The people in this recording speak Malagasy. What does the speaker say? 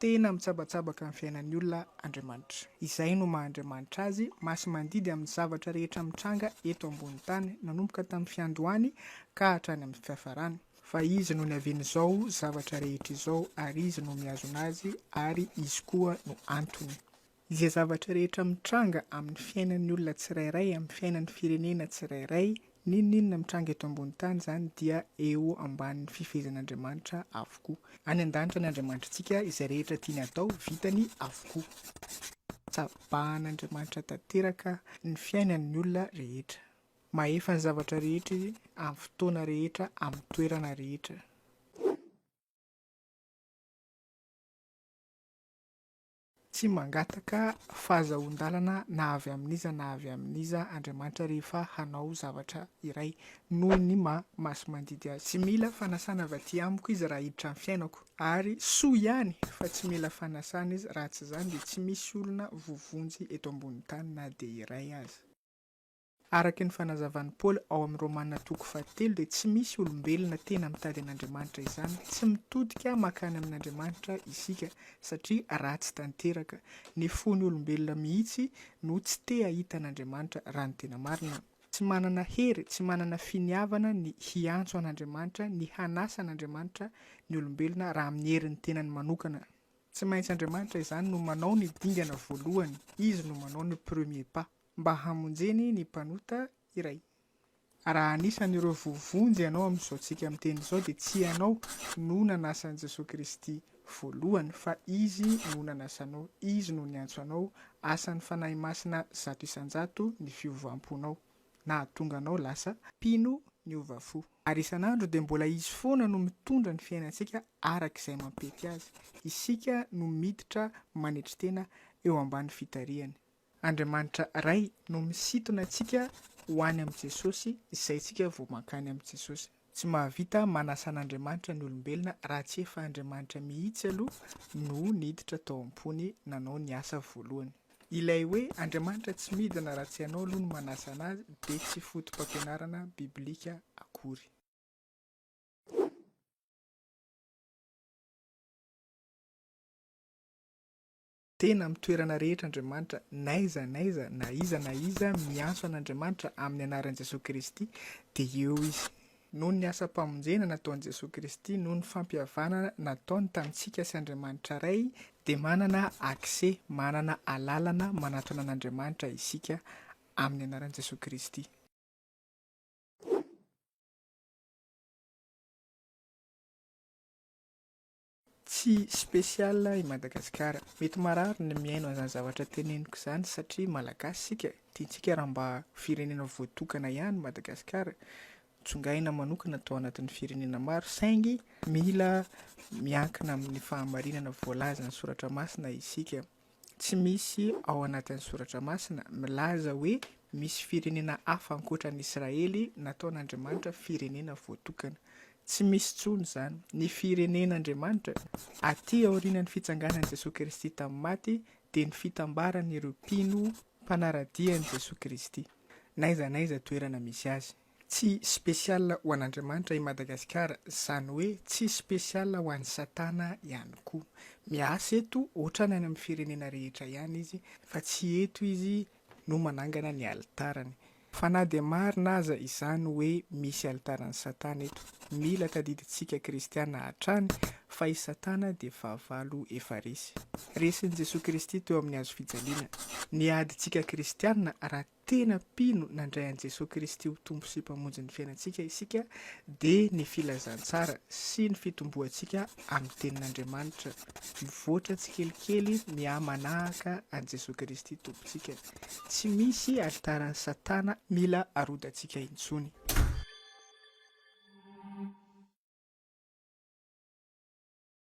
Tena mitsabatsabaka ny fiainan'ny olona Andriamanitra. Izay no maha Andriamanitra Azy, masi-mandidy amin'ny zavatra rehetra mitranga eto ambony tany, nanomboka tamin'ny fiandohany ka hatrany amin'ny fiafarany. Fa Izy no niavian'izao zavatra rehetra izao, ary Izy no mihazona azy, ary Izy koa no antony. Izay zavatra rehetra mitranga amin'ny fiainan'ny olona tsirairay, amin'ny fiainan'ny firenena tsirairay, n'inon'inona mitranga eto ambony tany izany dia eo ambanin'ny fifehezan'Andriamanitra avokoa. Any an-danitra ny Andriamanitra antsika, izay rehetra tiany atao, vitany avokoa. Tsabahan'Andriamanitra tanteraka ny fiainan'ny olona rehetra. Mahefa ny zavatra rehetra Izy, amin'ny fotoana rehetra, amin'ny toerana rehetra. Tsy mangataka fahazahoan-dalana na avy amin'iza na avy amin'iza Andriamanitra rehefa hanao zavatra iray, noho ny maha masi-mandidy azy. Tsy mila fanasana avy aty amiko izy raha hiditra ny fiainako, ary soa ihany fa tsy mila fanasana izy raha tsy izany dia tsy misy olona voavonjy eto ambonin'ny tany na dia iray aza. Araka ny fanazavan'i Paoly ao amin'ny Romana toko fahatelo dia tsy misy olombelona tena mitady an'Andriamanitra izany, tsy mitodika mankany amin'Andriamanitra isika satria ratsy tanteraka. Ny fon'ny olombelona mihitsy no tsy te hahita an'Andriamanitra raha ny tena marina. Tsy manana hery, tsy manana finiavana ny hiantso an'Andriamanitra, ny hanasa an'Andriamanitra ny olombelona raha amin'ny herin'ny tenany manokana. Tsy maintsy Andriamanitra izany no manao ny dingana voalohany, Izy no manao ny premier pas. mba hamonjeny ny mpanota iray. Raha anisan'ireo voavonjy ianao amin'izao tsika miteny izao dia tsy ianao no nanasa an'i Jesoa Kristy voalohany fa Izy no nanasa anao, Izy no niantso anao, asan'ny Fanahy Masina zato isan-jato ny fiovam-ponao nahatonga anao lasa mpino niova fo. Ary isan'andro dia mbola Izy foana no mitondra ny fiainantsika araka izay mampety Azy, isika no miditra manetry tena eo ambany fitarihany. Andriamanitra Ray no misintona antsika ho any amin'i Jesosy, izay isika vao mankany amin'i Jesosy. Tsy mahavita manasa an'Andriamanitra ny olombelona raha tsy efa Andriamanitra mihitsy aloha no niditra tao am-pony nanao ny asa voalohany. Ilay hoe Andriamanitra tsy midina raha tsy ianao aloha no manasa anazy dia tsy foto-pampianarana biblika akory. Tena amin'ny toerana rehetra Andriamanitra, n'aiza n'aiza, na iza na iza miantso an'Andriamanitra amin'ny anaran'i Jesoa Kristy dia eo Izy. Noho ny asam-pamonjena nataon'i Jesoa Kristy, noho ny fampihavanana nataony tamintsika sy Andriamanitra Ray, dia manana accès, manana alalana manatona an'Andriamanitra isika amin'ny anaran'i Jesoa Kristy. Tsy spécial i Madagasikara. Mety marary ny mihaino an'izany zavatra teneniko izany satria Malagasy isika, tiantsika raha mba ho firenena voatokana ihany i Madagasikara, tsongaina manokana tao anatin'ny firenena maro saingy mila miankina amin'ny fahamarinana voalazan'ny soratra masina isika. tsy misy ao anatin'ny Soratra Masina milaza hoe misy firenena hafa ankoatra an'i Israely nataon'Andriamanitra firenena voatokana. Tsy misy intsony izany. Ny firenen'Andriamanitra, atỳ aorianan'ny fitsanganan'i Jesoa Kristy tamin'ny maty, dia ny fitambaran'ireo mpino mpanara-dia an'i Jesoa Kristy, n'aiza n'aiza toerana misy azy. Tsy spécial ho an'Andriamanitra i Madagasikara, zany hoe tsy spécial ho an'i Satana ihany koa. Miasa eto otrany any amin'ny firenena rehetra ihany izy fa tsy eto izy no manangana ny alitarany. Fa na dia marina aza izany hoe misy alitaran'i Satana eto, mila tadidintsika kristiana hatrany fa i Satana dia fahavalo efa resy. Resin'i Jesoa Kristy teo amin'ny hazo fijaliana. Ny adintsika kristiana raha tena mpino nandray an'i Jesoa Kristy ho Tompo sy Mpamonjin'ny fiainantsika isika dia ny filazantsara sy ny fitomboantsika amin'ny Tenin'Andriamanitra mivoatra tsikelikely mihamanahaka an'i Jesoa Kristy Tompontsika. Tsy misy alitaran'i Satana mila arodantsika intsony.